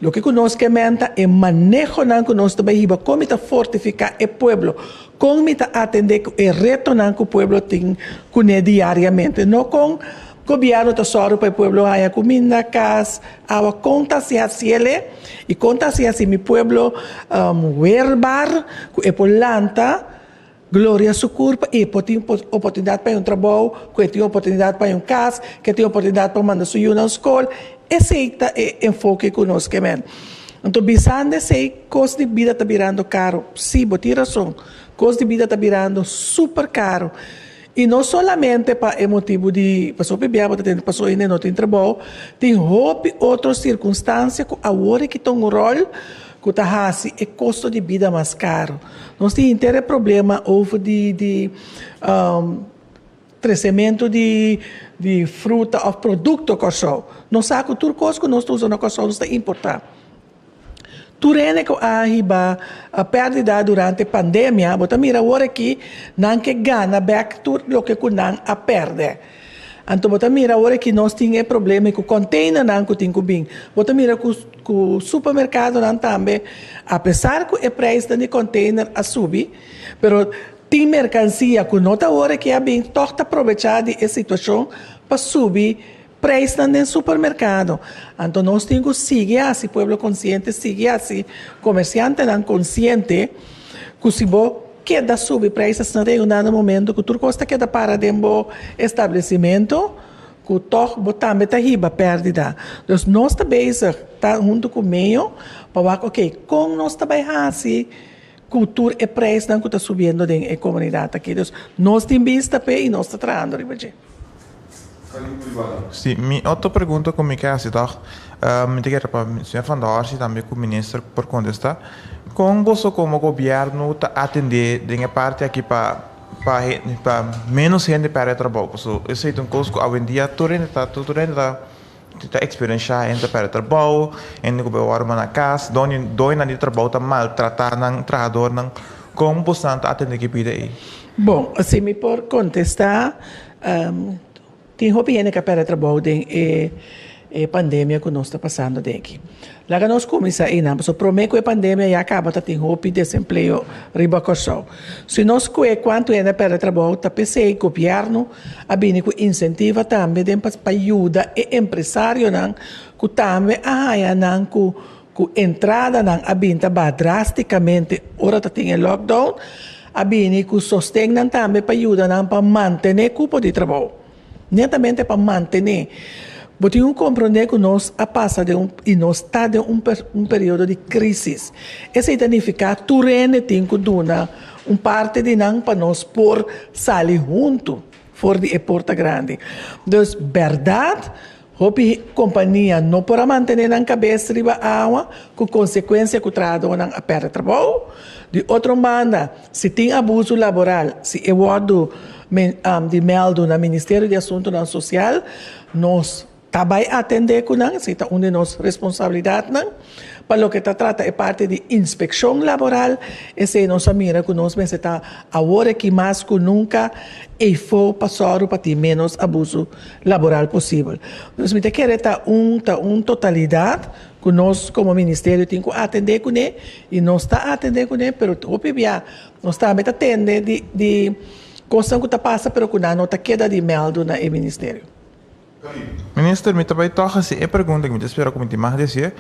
H: Loke ku nos ke menta, e manehonan ku nos ta bai hiba, kon mi ta fortifiká e pueblo, kon mi ta atendé ku e retonan ku pueblo tin kuné diariamente, no kon Gobièrnu ta sòru pa e pueblo haña kuminda, kas, awa, kon ta hasi hasiel'e i kon ta hasi hasi mi pueblo weerbaar ku e por lanta. Gloria su kurpa i e por tin oportunidat pa yon trabou, ku e tin oportunidat pa yon kas, ku e tin oportunidat pa manda su yunan skol. Esei ta e enfoke ku nos ke men. Anto bisando esei, kos di bida ta birando karu. Sí, bo tin rason, kos di bida ta birando súper karu. I no solamente pa e motibu di pasobra p'ebia bo ta tende pasa oye n'e no tin trabou, tin hopi otro sirkunstansia ku awor e kita un ròl. ku ta hasi e kosto di bida mas karu. Nos tin henter e problema over di di tresementu di di fruta òf produkto Kòrsou. Nos sa ku tur kos ku nos ta usa na Kòrsou nos ta importá. Tur hende ku a hiba pèrdida durante pandemia, bo ta mira awor aki nan ke gana bèk tur loke ku nan a pèrdè. Anto bo ta mira ora ki nos tin e problema ku konteinernan ku tin ku bin, bo ta mira ku supermerkadonan tambe apesar ku e preis den di konteiner a subi, pero tin merkansia ku no ta ora ke a bin tòg ta probecha di e situashon pa subi preisnan den supermerkado. Anto nos tin ku sigui hasi pueblo konsiente, sigui hasi komersiantenan konsiente ku si bo. Keda subi prices na reunda na momento cu tur cos ta keda para den bo establecimento, cu toch bo tambe ta hiba perdida. Dus nos ta bezig, ta hunto cu Meo, pa wak ok, con nos ta bay haci cu tur e prijsnan cu ta subiendo den e comunidad aki. Dus nos tin bista p'e y nos ta trahando riba dje. Salud privado.
J: Sí, mi otro pregunta cu mi ke haci tog, mi ta kere pa Señor Van Dors y tambe cu Minister por contesta, con boso como Gobierno ta atende den e parti aki pa pa pa menos hende perde trabao? Paso esey ta un cos cu awendia tur hende ta tur hende ta Ta eksperenshá hende ta pèrdè trabou, hende ku bai wòrdu na kas, doñonan di trabou ta maltratá nan trahadornan. Kon bosan ta atendé ki pida ei? Bon, si mi
H: por kontestá, tin hopi hende ku a pèrdè trabou den e pandemia ku nos ta pasando den aki. Laga nos cuminsa eynan pasobra prome cu e pandemia ya caba ta tin hopi desempleo riba Corsou. Si nos scue cuanto hende a perde trabou ta p'esey gobierno a bini cu incentiva tambe den pa pa yuda e empresarionan cu tambe a haya nan cu cu entradanan a bin ta baha drasticamente ora ta tin e lockdown a bini cu sostennan tambe pa yudanan pa mantene cupo di trabou. Netamente pa mantené. Bo tin un komprondé ku nos a pasa den un, i nos ta den un, un periodo di krísis. Esei ta nifiká tur hende tin ku duna un parti di nan pa nos por sali huntu for di e porta grandi. Dus, bèrdat. Hopi kompania no por a mantené nan kabes riba awa ku konsekuensia ku trahadónan a pèrdè trabou. Di otro banda, si tin abusu laboral, si e wòrdu di mèldu na Ministerio di Asuntunan Sosial, nos ta bai atendé ku nan, si ta un di nos responsabilidatnan. Pa loke ta trata e parti di inspekshon laboral, esei nos a mira ku nos mester ta awor aki mas ku nunka eifó pa sòru pa tin ménos abuso laboral posibel. Dus mi ta kere ta un ta un totalidat ku nos komo ministerio tin ku atendé kuné i nos ta atendé kuné, pero hopi bia nos tambe ta tende di di kosnan ku ta pasa pero ku nan no ta keda di mèldu na e ministerio.
J: Minister mi ta bai tog haci e pregunta cu mi ta espera cu mi tin mas di haci.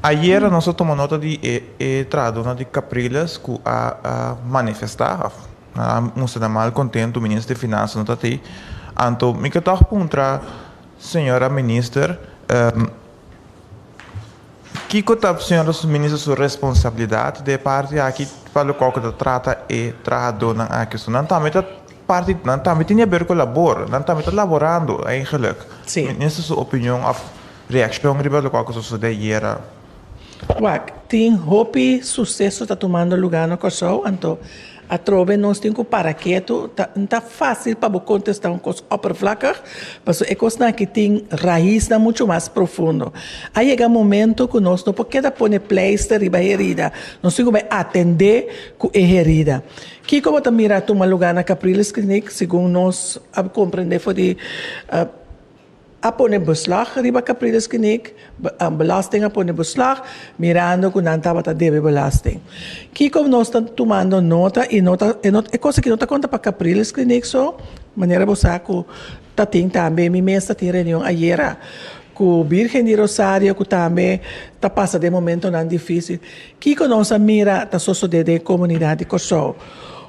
J: Ayera nos a tuma nota di e trahadornan di Capriles cu a manifesta of nan a mustra nan mal contento Minister di Finansa no ta ta ey. Anto mi ke tog puntra señora Minister kico ta señora Minister su responsabilidad den e parti aki pa loke cu ta trata e trahadornan aki. Nan tambe ta. Parti nan tambe tin yaber ku labor. Nan tambe ta laborando eigenlik. Sí. Minister su
H: opinion
J: of reakshon riba lokual ku sosodé ayera? Wak,
H: tin hopi suseso ta tumando lugá na Kòrsou, anto atrobe nos tin ku para ketu. Ta no ta fásil pa bo kontestá un kos òpervlakig, pasobra e kosnan aki tin raisnan muchu mas profundo. A yega momentu ku nos no por keda pone pleister riba herida, nos tin ku bai atendé ku e herida. Kiko bo ta mira tuma lugá na Capriles Kliniek segun nos a komprendé for di a pone beslag riba Capriles Kliniek, belasting a pone beslag mirando ku nan tabata debe belasting. Kiko nos ta tumando nota i no ta e kos aki no ta konta pa Capriles Kliniek so manera bo sa ku Ta tin tambe, mi mes ta tin reunion ayera cu Birgen di Rosario cu tambe ta pasa den momentonan dificil. Kico nos a mira ta sosode den e comunidad di Corsou?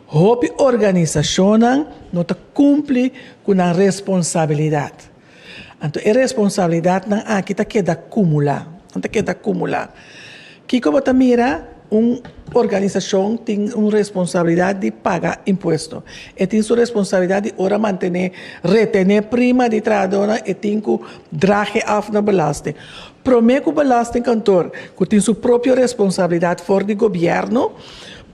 H: Hopi organisacionnan no ta cumpli cu nan responsabilidad. Anto e responsabilidadnan aki ta keda cumula, nan ta keda cumula. Kiko bo ta mira un organisashon tin un responsabilidat di paga impuesto? E tin su responsabilidat di ora mantené, retené prima di trahadónan, e tin ku drahe af na belasting. Promé ku belastingkantor, ku tin su propio responsabilidat for di gobièrnu,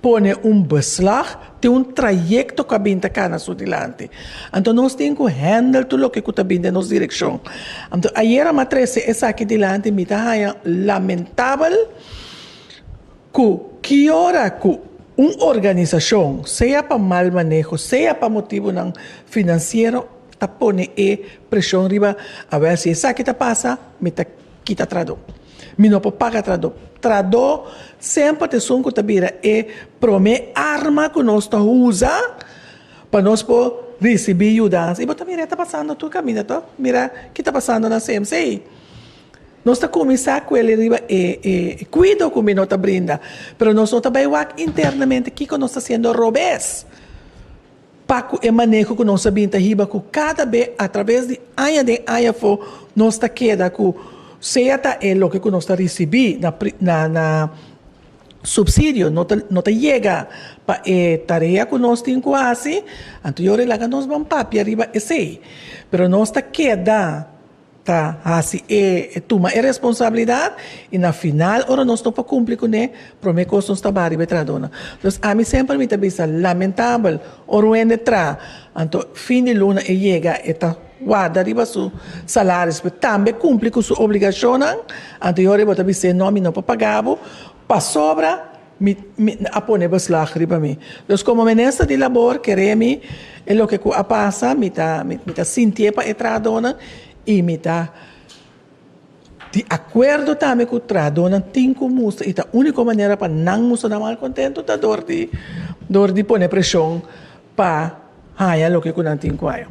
H: pone un beslag te un trayecto cu a bin ta cana su dilanti. Anto nos tin cu handle tur loke cu ta bin den nos direccion. Anto ayera m'a trece esaki dilanti mi ta haya lamentabel cu ki ora cu un organisacion, sea pa mal maneho, sea pa motibonan financiero, ta pone e presion riba, a wer si esaki ta pasa, mi ta kita tra do. Mi no por paga tradó. Tradó semper ta esun cu ta bira e prome arma cu nos ta usa pa nos por ricibi yudanza. Y bo ta mira e ta pasando tur caminda to. Mira ki ta pasando na CMC. Nos ta cuminsa cu el'e riba e cuido cu mi no ta brinda. Pero nos no ta bay wak internamente kico nos ta haciendo robes. Pa cu e maneho cu nos a bin ta hiba cu cada be a traves di aña den aña afo nos ta keda cu sea ta e loke cu nos ta ricibi na subsidio no ta yega pa e tarea cu nos tin cu haci, anto yo rei laga nos ban papia riba esey. Pero nos ta keda. ta hasi e tuma e responsabilidad y na final ora nos no por cumpli cu ne prome cos nos ta bay riba e traadona entonces ami semper mi ta bisa lamentabel ora un hende tra anto fin di luna e yega e ta warda riba su salaris pe tambe cumpli cu su obligacionnan anto y ora e bo ta bisa no mi no por pagabo pasobra Mi a pone beslag riba mi. Dus komo Minister di Labor keré mi e loke ku a pasa mi ta mi ta sintié pa e trahadónan i mi ta di akuerdo tambe ku trahadónan tin ku musta i ta úniko manera pa nan musta na malkontentu ta dor di dor di pone preshon pa haña loke ku nan tin ku haña.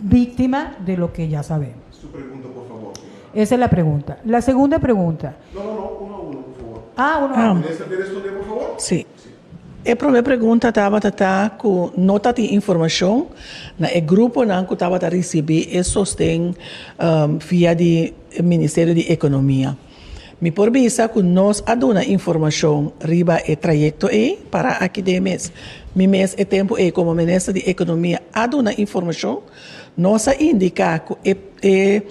K: Víctima de lo que ya sabemos. Su pregunta por
G: favor señora. Esa es la pregunta.
K: La segunda pregunta. No, no, no.
G: Uno a uno, por favor. Ah, uno a uno. Minister, te responder
K: por favor?
G: Sí. Sí.
H: E prome pregunta tabata ta cu no ta tin informacion na e gruponan cu tabata ricibi e sosten via di Ministerio di Economia. Mi por bisa cu nos a duna informacion riba e trayecto ey para aki den mes. Mi mes e tempo ey como Minister di Economia a duna informacion, nos a indica cu e e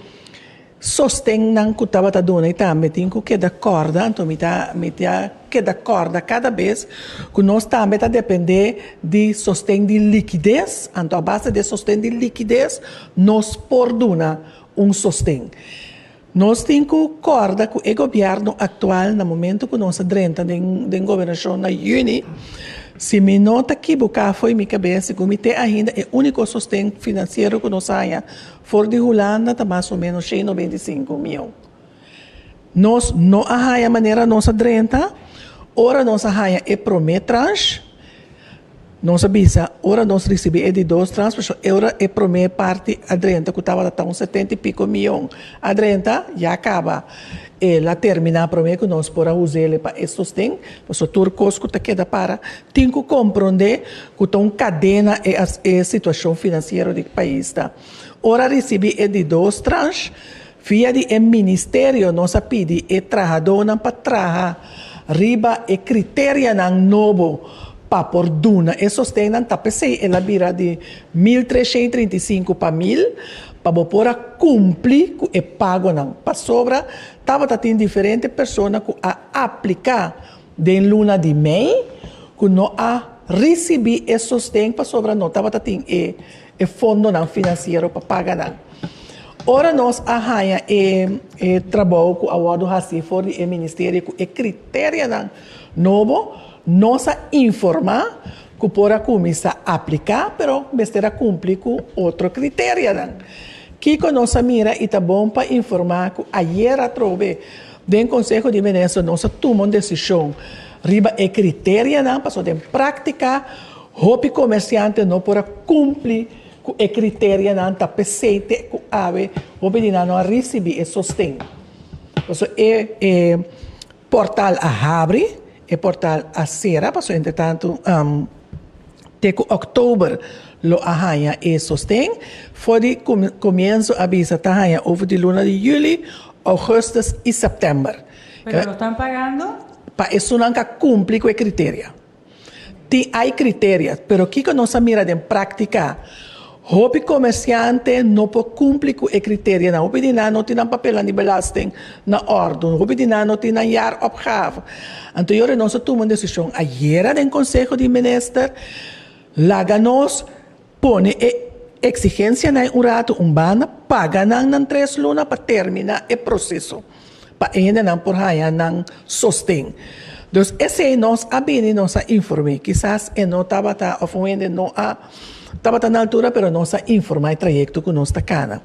H: sostennan cu tabata duna'y tambe tin cu keda corda, anto mi ta mi ta keda corda cada bes cu nos tambe ta depende di sosten di liquidez, anto a base di e sosten di liquidez nos por duna un sosten. Nos tin cu corda cu e gobierno actual na momento cu nos a drenta den gobernacion na juni, si mi no ta kibuca fo'i mi cabes, segun mi te ainda e unico sosten financiero cu nos haya for di Hulanda ta mas o menos shei noventa i sinku mil. Nos no a haya manera nos a drenta, ora nos a haya e prome tranche, Nos a bisa, ora nos risibí e di dos transfusion, e ora e promé parti a drenta, ku tabata ta un setenta i piko mion, a drenta, ya kaba. El a terminá promé ku nos por a usa el pa e sosten, pasobra tur kos ku ta keda para tin ku komprondé ku ta un kadena e e situashon finansiero di e pais ta. Ora a risibí e di dos transh, Via di e Ministerio nos a pidi e trahadónan pa traha riba e kriterianan nobo pa por duna e sosten nan ta p'esei el a bira di mil treshén trinta i sinku pa mil pa bo por a kumpli ku e pagonan. Pasobra tabata tin diferente persona ku a apliká den luna di mei ku no a risibí e sosten pasobra no tabata tin e e fondonan finansiero pa paga nan. Ora nos a haña e e trabou ku a wòrdu hasi for di e ministerio ku e kriterianan nobo, nos a informá ku por a kuminsá apliká, pero mester a kumpli ku otro kriterianan. Kiko nos a mira i ta bon pa informá ku ayer atrobe den Konseho di Minister nos a tuma un desishon riba e kriterianan pasobra den práktika, Hopi comerciante no por a cumpli cu e criterianan ta pesey te cu awe hopi di nan no a ricibi e sosten. Paso e portal a habri, e portal a cera, paso entretanto te cu oktober lo a hanja e sosten, for di comienzo a bisa ta hanja over di luna di juli, augustus y september. Pero lo tan
K: pagando? Pa esunnan ca
H: cumpli cu e criteria. Tin ai criteria, pero kico nos a mira den practica? Hopi comerciante no por cumpli cu e criterianan. Hopi di nan no tin nan papelnan di belasting na ordo. Hopi di nan no tin nan jaar-opgave. Anto yo renon nos a tuma un decision ayera den Conseho di Minister. Laga nos Pone e eksigensianan e un ratu un banda, paga nan nan tres luna pa terminá e proseso pa hendenan por haña nan sosten. Dus esei nos a bini, nos a inform'é. Kisas e no tabata òf un hende no a tabata na altura pero nos a informá e trayekto ku nos ta kana.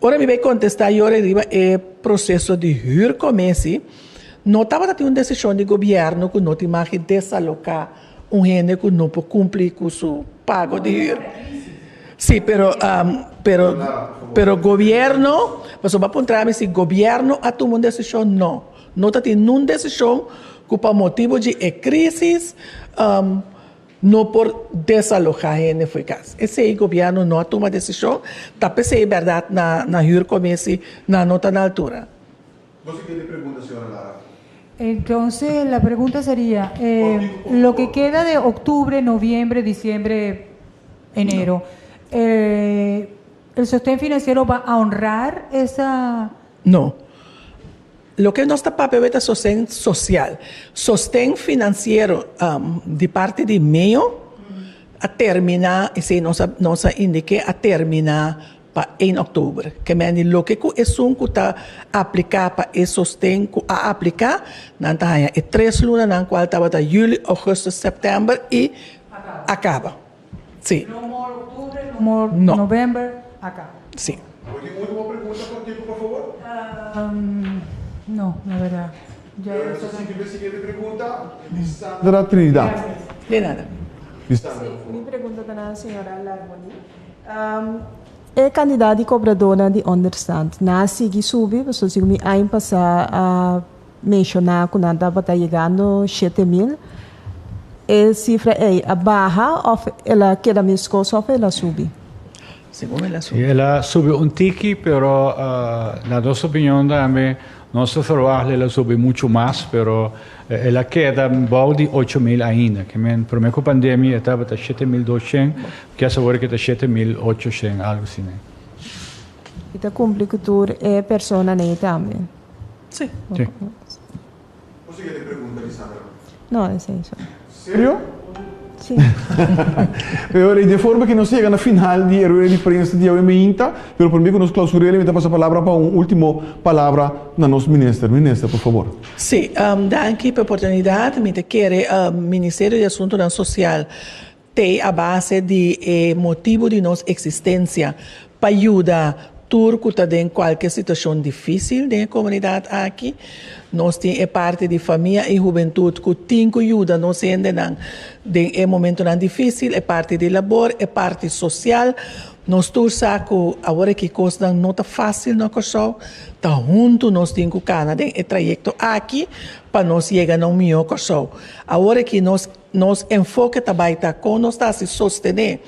H: Ora mi bai kontestá yore riba e proseso di hür komesi, no tabata tin un desishon di gobièrnu ku no tin maki desaloká. Un hende cu no por cumpli cu su pago di huur. Si, pero, pero, pero gobierno, pasobra a puntra mi si gobierno a tuma un decision, no. No ta tin nun decision cu pa motibu dje e crisis no por desaloha hende for e cas. Esey gobierno no a tuma decision, ta pesey berdad na huur comisie, nan no ta na altura. Nos a kende
G: pregunta, señora Lara? Entonse
K: la pregunta seria, e loke keda de octubre, noviembre, diciembre, enero, e el sosten financiero ba a honrar esa. No.
H: Loke nos ta papia awor ta sosten social. Sosten financiero di parti di MEO a termina, esei nos a indique, a termina. pa ein oktober. Kemendi loke ku esun ku ta apliká pa e sosten ku a apliká, nan ta haña e tres lunanan kual tabata juli, ougùstus, sèptèmber i a kaba.
K: Si.
L: E kantidat di kobradónan di ònderstand na a sigui subi, pasobra si ku mi aña pasá a menshoná ku nan tabata yegando shete mil, e sifra ei a baha òf el a keda meskos òf el a subi? Segun el a
I: subi. Sí, el a subi un tiki, pero na nos opinion tambe Nos ta verwacht lei la subi muchu mas, pero el a keda bou di ocho mil ainda. Ke men, promé ku pandemia e tabata shete mil dos shen, kes awor eki ta shete mil ocho shen, algu si nei.
L: I ta kumpli ku tur e persona nei tambe? Sí. Sí.
G: Bo sigue di pregunta Lisandra? No, esei
L: so. Serio? Sí.
G: Pero rey, de forma que nos llega na final di e rueda di prensa di awe mainta, pero primer que nos clausurele mi ta pasa palabra pa un ultimo palabra na nos minister. Minister, por favor. Sí, um,
H: danki pa oportunidad. Mi ta kere um, Ministerio di Asuntonan Social, tei a base di e motibo di nos existencia, pa yuda tur cu ta den cualkier situacion dificil den e comunidad aki. Nos tin e parti di famia y hubentud cu tin cu yuda nos hendenan den e momentonan dificil, e parti di labor, e parti social. Nos tur sa cu awor aki cosnan no ta facil na Corsou, ta hunto nos tin cu cana den e trayecto aki pa nos yega na un mijo Corsou. Awor aki nos. Nos enfoke ta bai ta kon nos ta hasi sostené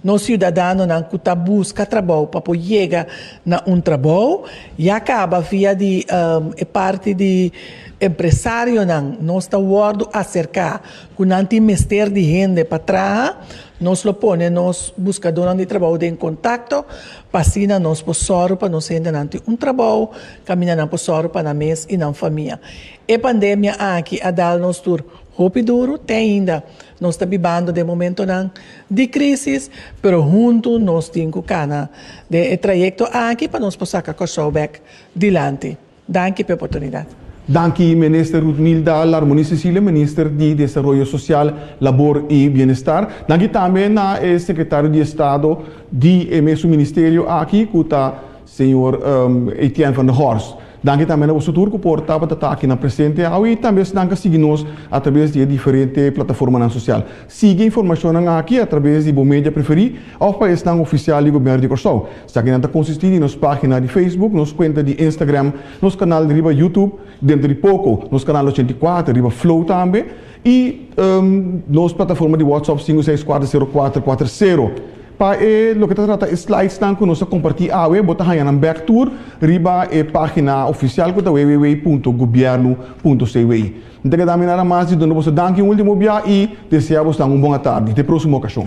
H: nos siudadanonan ku ta buska trabou pa por yega na un trabou. Ya kaba via di e parti di empresarionan, nos ta wòrdu aserká ku nan tin mester di hende pa traha. Nos lo pone nos buskadónan di trabou den kontakto pa asina nos por sòru pa nos hendenan tin un trabou kaminda nan por sòru pa nan mes i nan famia. E pandemia aki a dal nos tur. Hopi duru te ainda. Nos ta bibando den momentonan di crisis, pero huntu nos tin cu cana den e trayecto aki pa nos por saca Corsou bek dilanti. Danki p'e oportunidad. Danki Minister
G: Rutmilda Larmoni Cecilia, Minister di Desaroyo Social, Labor y Bienestar. Danki tambe na e Secretario di Estado di e mesun Ministerio aki cu ta. Señor Etienne van der Horst, danki tambe na boso tur cu por tabata ta aki na presente awe y tambe esnan ca sigui nos a traves di e diferente plataformanan social. Sigui e informacionnan aki a traves di bo media preferi of pa esnan oficial di Gobierno di Corsou. Esaki nan ta consisti di nos pagina di Facebook, nos cuenta di Instagram, nos canal riba Youtube, dentro di poco nos canal ochenta i kuater riba Flow tambe. I nos plataforma di WhatsApp sinku seis kuater sero kuater kuater sero. Pa e loke ta trata e slidesnan ku nos a kompartí awe bo ta haña nan bèk tur riba e página ofisial ku ta www.gobierno.cwi. N ta keda aminá nan mas di duna boso danki un último bia i desea boso nan un bon atardi. Te próksimo okashon.